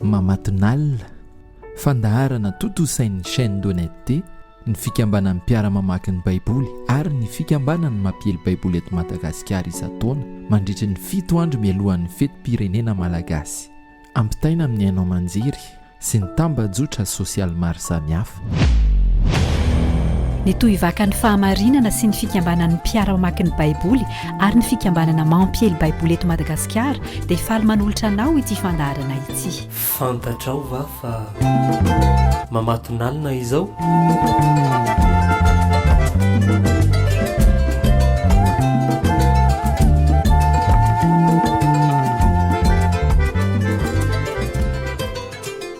Mamatonalina, fandaharana tontosain'ny chaîne d'honnêteté, ny fikambanan'ny mpiara-mamaky ny Baiboly ary ny fikambanan'ny mampiely Baiboly eto Madagasikara isan-taona mandritry ny fito andro mialohan'ny fetim-pirenena malagasy. Ampitaina amin'ny haino aman-jery sy ny tambajotra sosialy maro samihafa. Ny Tohivakan'ny Fahamarinana sy ny fikambanan'ny mpiara-mamaky ny Baiboly ary ny fikambanana mampiely Baiboly eto Madagasikara dia faly manolotra anao ity fandaharana ity. Fantatrao va fa mamatonalina izao?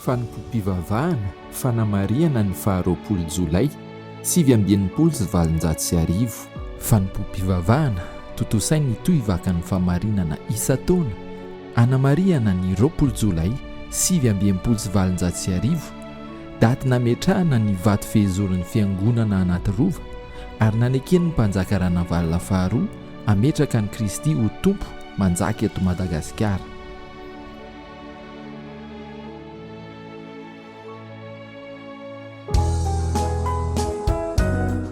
Fanompoam-pivavahana, Fanamarihana ny faha roapolo Jolay sivy amby enimpolo sy valonjato sy arivo. Fanompoam-pivavahana, Tontosainy ny tohivakan'ny fahamarinana isan-taona anamarihana ny roapolo Jolay sivy amby enimpolo sy valonjato sy arivo, daty nametrahana ny vato fehezoron'ny Fiangonana Anatirova ary naneken'ny Mpanjaka Ranavalona faharoa hametraka an'i Kristy ho Tompo manjaka eto Madagasikara.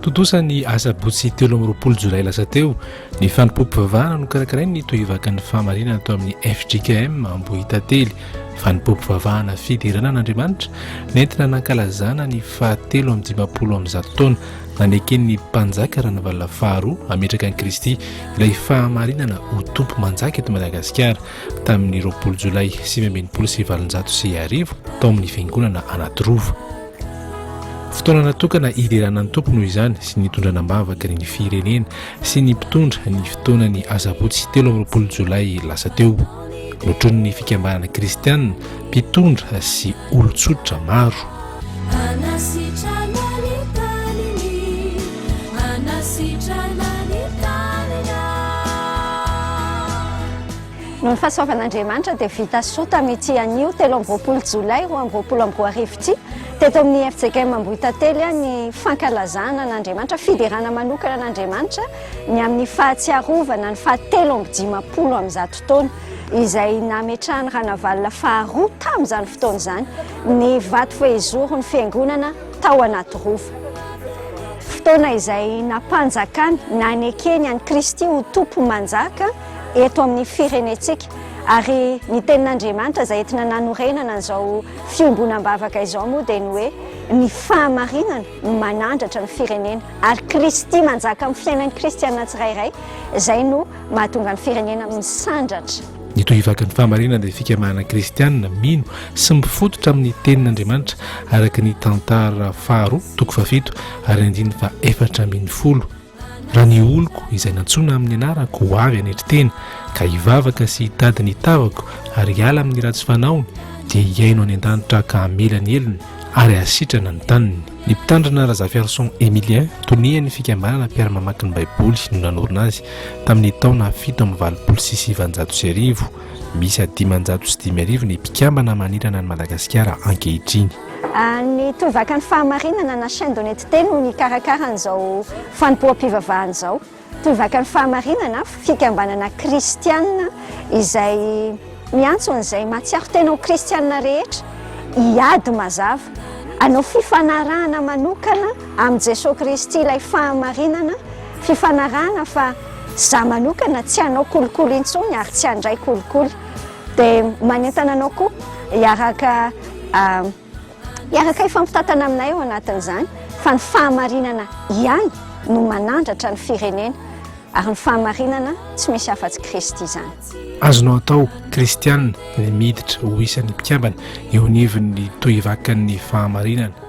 Tontosa ny asabotsy telo amby roapolo jolay lasa teo ny fanompoam-pivavahana nokarakarain'ny tohivakan'ny fahamarinana tao amin'ny FJKM Ambohitately fanompoam-pivavahana fiderana an'Andriamanitra nentina nankalazana ny fahatelo amin'ny dimampolo amin'ny zato taona naneken'ny mpanjaka Ranavalona faharoa hametraka an'i Kristy ilay fahamarinana ho tompo manjaka eto Madagasikara tamin'ny roapolo jolay sivy amby enimpolo sy valonjato sy arivo tao amin'ny fiangonana Anatirova. Fotoana natokana hiderana ny tompo noho izany sy ny hitondrana am-bavaka ny firenena sy ny mpitondra ny fotoanan'ny asabotsy telo amby roapolo jolay lasa teo. Notronin'ny fikambanana kristianina Mpitondra sy olon-tsotra maro. Noho ny fahasoavan'Andriamanitra dia vita soa tamin'ity anio telo amby roapolo jolay roa amby roapolo amby roa arivo ity teto amin'ny fjkm Ambohitantely ny fankalazana an'Andriamanitra, fiderana manokana an'Andriamanitra ny amin'ny fahatsiarovana ny fahatelo amby dimampolo amin'ny zato taona. izay nametrahan'i Ranavalona faharoa tamin'izany fotoana izany ny vato fehizoron'ny fiangonana tao Anatirova. Fotoana izay nampanjakany, nanekeny an'i Kristy ho tompo manjaka eto amin'ny firenentsika. Ary ny tenin'Andriamanitra izay entina nanorenana an'izao fiombonam-bavaka izao moa dia ny hoe ny fahamarinana no manandratra ny firenena ary Kristy manjaka amin'ny fiainan'ny kristiana tsirairay izay no mahatonga ny firenena misandratra. Ny tohivaky ny fahamarinana dia fikamahana kristianina mino sy mifototra amin'ny tenin'Andriamanitra araka ny tantara faharoa toko fahafito ary andininy fa efatra ambin'ny folo raha ny oloko izay nantsoina amin'ny anarako ho avy anetry tena ka hivavaka sy hitady ny tavako ary hiala amin'ny ratsy fanaony dia hiaino any an-danitra ka hamela ny helony ary hasitrana ny taniny Ny Mpitandrina Razafiarison Emilien, tonian'ny fikambanana mpiara-mamaky ny Baiboly no nanorina azy, tamin'ny taona fito amby valopolo sy sivanjato sy arivo. Miisa dimanjato sy dimy arivo ny mpikambana manerana an'i Madagasikara ankehitriny. Ny Torovakan'ny Fahamarinana na Chaîne de Netteté no nikarakara an'izao fanompoam-pivavahana izao. Mpivaka ny fahamarinana, fikambanana kristiana izay miantso an'izay mahatsiaro tena ho kristiana rehetra hiady mazava, hanao fifanarahana manokana amin'i Jesoa Kristy ilay fahamarinana, fifanarahana fa za manokana tsy hanao kolikoly intsony ary tsy handray kolikoly. Dia manentana anao koa hiaraka Hiaraka hifampitantana aminay ao anatin'izany fa ny fahamarinana ihany no manandratra ny firenena ary ny fahamarinana tsy misy afa-tsy Kristy izany. Azonao atao kristiana ny miditra ho isan'ny mpikambana eo anivon'ny Tohivakan'ny Fahamarinana.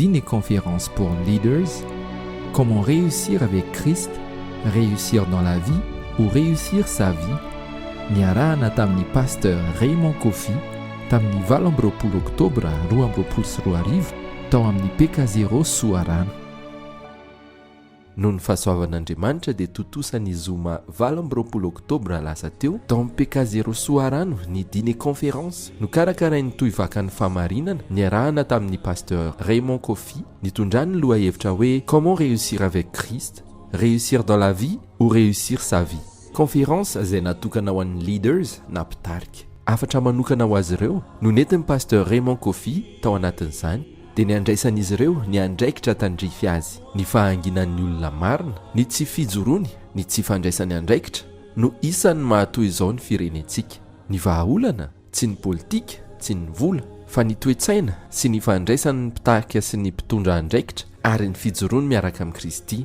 Dimy Conference pour Leaders, Comment réussir avec Christ, Réussir dans la vie ou Réussir sa vie, niarahana tamin'ny Pasteur Raymond Koffi tamin'ny valo amby roapolo Oktobra roa amby roapolo sy roa arivo tao amin'ny Pekazero Soarano. Noho ny fahasoavan'Andriamanitra dia tontosa ny zoma valo amby roapolo oktobra lasa teo tao amin'ny Pekazero Soarano ny dîner conférence nokarakarain'ny Tohivakan'ny Fahamarinana niarahana tamin'ny Pasteur Raymond Koffi nitondrany ny lohahevitra hoe Comment réussir avec Christ, Réussir dans la vie ou Réussir sa vie? Conférence izay natokana ho an'ny Leaders na mpitarika. Hafatra manokana ho azy ireo no nentin'ny Pasteur Raymond Koffi tao anatin'izany. dia ny handraisan'izy ireo ny andraikitra tandrify azy. Ny fahanginan'ny olona marina, ny tsy fijoroany, ny tsy fandraisany andraikitra no isan'ny mahatoy izao ny firenentsika. Ny vahaolana, tsy ny politika, tsy ny vola, fa ny toe-tsaina sy ny fandraisan'ny mpitarika sy ny mpitondra andraikitra ary ny fijoroany miaraka amin'i Kristy.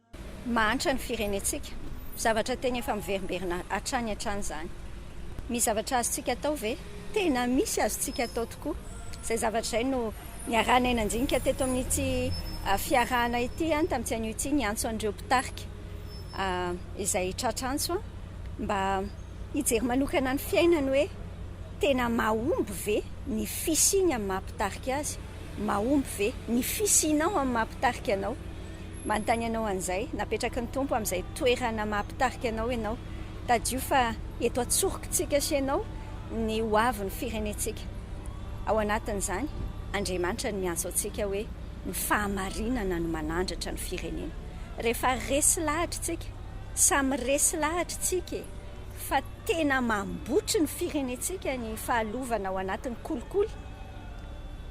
Mahantra ny firenentsika. Zavatra tena efa miverimberina hatrany hatrany izany. Misy zavatra azontsika atao ve? Tena misy azontsika atao tokoa. Izay zavatra izay no niarahanay nandinika teto amin'ity fiarahana ity, tamin'ity anio ity, ny antso an'ireo mpitarika izay tratra antso mba hijery manokana ny fiainany hoe tena mahomby ve ny fisiany amin'ny maha mpitarika azy? Mahomby ve ny fisianao amin'ny maha mpitarika anao? Manontany anao an'izay, napetraky ny Tompo amin'izay toerana maha-mpitarika anao ianao. Tadidio fa eto an-tsorokitsika sy ianao ny ho avin'ny firenentsika. Ao anatin'izany, Andriamanitra no miantso antsika hoe ny fahamarinana no manandratra ny firenena. Rehefa resy lahatra isika, samy resy lahatra isika e! fa tena mambotry ny firenentsika ny fahalovana ao anatin'ny kolikoly,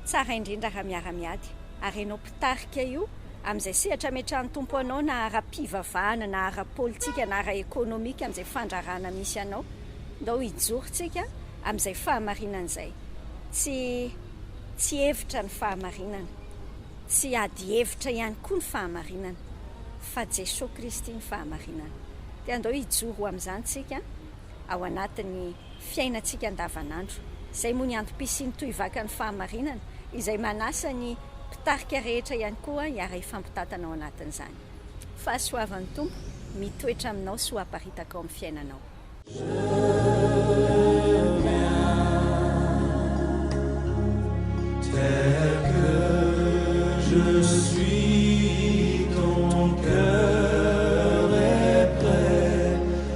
tsara indrindra raha miara-miady, ary ianao tarika io, amin'izay sehatra ametrahan'ny Tompo anao na ara-pivavahana na ara-politika na ara-ekonomika amin'izay fandrarana misy anao. Ndao hijoro tsika amin'izay fahamarinana izay. Tsy tsy hevitra ny fahamarinana. Tsy ady hevitra ihany koa ny fahamarinana. Fa Jesoa Kristy ny fahamarinana. Dia andao hijoro ho amin'izany tsika ao anatin'ny. fiainantsika andavanandro. Izay moa ny antom-pisian'ny tohivakan'ny fahamarinana, izay manasa ny mpitarika rehetra ihany koa hiara-hifampitantana ao anatin'izany. Fahasoavan'ny Tompo mitoetra aminao sy ho aparitaka ao amin'ny fiainanao.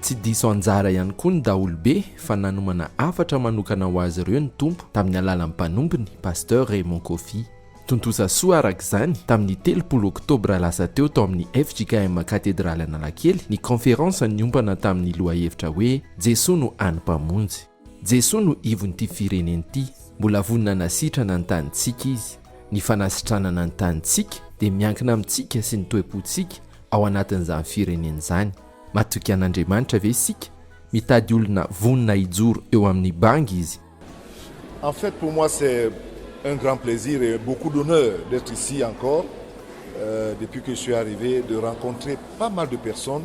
Tsy diso anjara ihany koa ny daholobe fa nanomana hafatra manokana ho azy ireo ny Tompo tamin'ny alalan'ny mpanompony, Pasteur Raymond Koffi. Tontosa soa araka izany, tamin'ny telopolo oktobra lasa teo tao amin'ny fjkm Katedraly Analakely ny kaonferansa niompana tamin'ny lohahevitra hoe Jesoa no An'ny Mpamonjy. Jesoa no ivon'ity firenena ity, mbola vonona hanasitrana ny tanintsika Izy. Ny fanasitranana ny tanintsika dia miankina amintsika sy ny toe-pontsika ao anatin'izany firenena izany. Matoky an'Andriamanitra ve isika? Mitady olona vonona hijoro eo amin'ny bangy Izy. En fait pour moi c'est un grand plaisir et beaucoup d'honneur d'etre ici encore depuis que je suis arrive de rencontrer pas mal de personnes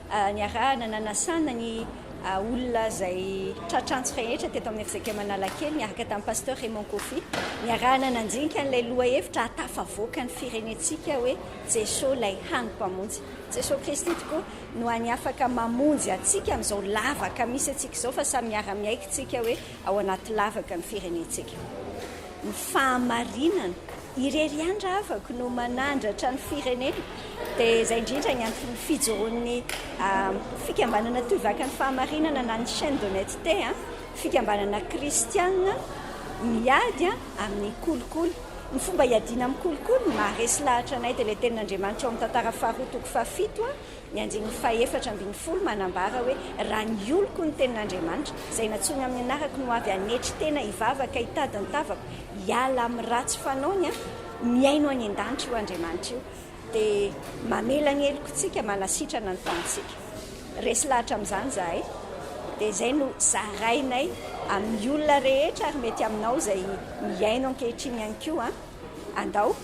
Niarahana nanasana ny olona izay tratra antsy rehetra teto amin'ny FJKM Analakely niaraka tamin'ny Pasteur Raymond Koffi. Niarahana nandinika an'ilay lohahevitra hahatafavoaka ny firenentsika hoe Jeso ilay hany mpamonjy. Jeso Kristy tokoa no hany afaka mamonjy antsika amin'izao lavaka misy antsika izao fa samy miara-miaiky tsika hoe ao anaty lavaka ny firenentsika. Ny fahamarinana irery ihany ravako no manandratra ny firenena dia izay indrindra ny anton'ny fijoroan'ny fikambanana Toy Vaky ny Fahamarinana na ny Chaine d'Honnêteté, fikambanana kristiana miady amin'ny kolikoly. Ny fomba hiadiana amin'ny kolikoly, ny maharesy lahatra anay dia ilay tenin'Andriamanitra ao amin'ny Tantara faharoa toko fahafito, Ny andininy fahefatra ambin'ny folo manambara hoe, Raha ny oloko no tenin'Andriamanitra, izay nantsoiny amin'ny anarako no avy hanetry tena hivavaka hitady ny tavako hiala amin'ny ratsy fanaony, mihaino any an-danitra io Andriamanitra io dia mamela ny helokontsika, manasitrana ny tanintsika. Resy lahatra amin'izany izahay dia izay no zarainay amin'ny olona rehetra ary mety aminao izay mihaino ankehitriny ihany koa an! Andao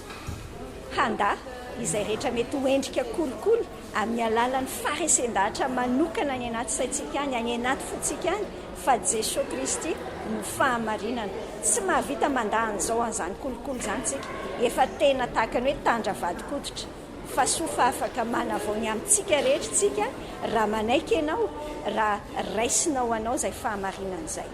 handà izay rehetra mety ho endrika kolikoly amin'ny alalan'ny faharesen-dahatra manokana any anaty saintsika any, any anaty fontsika any, fa Jesoa Kristy no fahamarinana. Tsy mahavita mandà an'izao an'izany kolikoly izany tsika, efa tena tahaka ny hoe tandra vadin-koditra, fa soa fa afaka manavao ny amintsika rehetra tsika raha manaiky ianao, raha raisinao anao izay fahamarinana izay.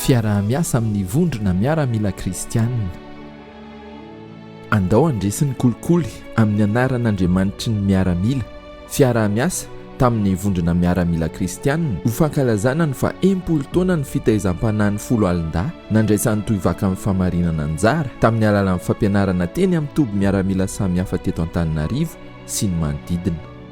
Fiaraha-miasa amin'ny vondrona miaramila kristiana. Andao handresy ny kolikoly amin'ny anaran'Andriamanitry ny miaramila, fiaraha-miasa tamin'ny vondrona miaramila kristiana ho fankalazana ny faha enimpolo taonan'ny fitaizam-panahin'ny Foloalindahy nandraisan'i Tohivaka amin'ny fahamarinana anjara tamin'ny alalan'ny fampianarana teny amin'ny toby miaramila samihafa teto Antananarivo sy ny manodidina.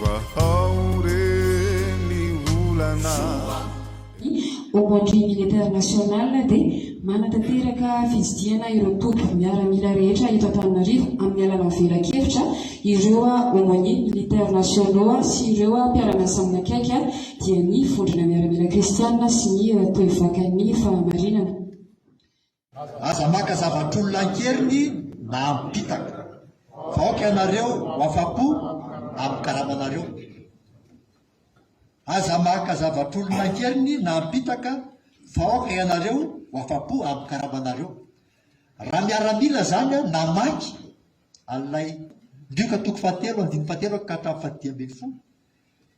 Vahao re ny olana. Ny Au Bandit Militaire-National dia manatanteraka fitsidihana ireo toby miaramila rehetra eto Antananarivo amin'ny alalan'ny velakevitra, ireo Aumôniers Militaires Nationaux sy ireo mpiara-miasa manakaiky dia ny Vondrona Miaramila Kristianina sy ny Toe Vakan'ny Fahamarinana. Aza maka zavatr'olona an-keriny na am-pitaka. Vaoka ianareo ho afa-po amin'ny karamanareo. Aza maka zavatr'olona an-keriny na am-pitaka. Vaoka ianareo ho afa-po amin'ny karamanareo. Raha miaramila izany an, namaky an'ilay Lioka toko fahatelo andininy fahatelo ka hatramin'ny fahadimy ambin'ny folo,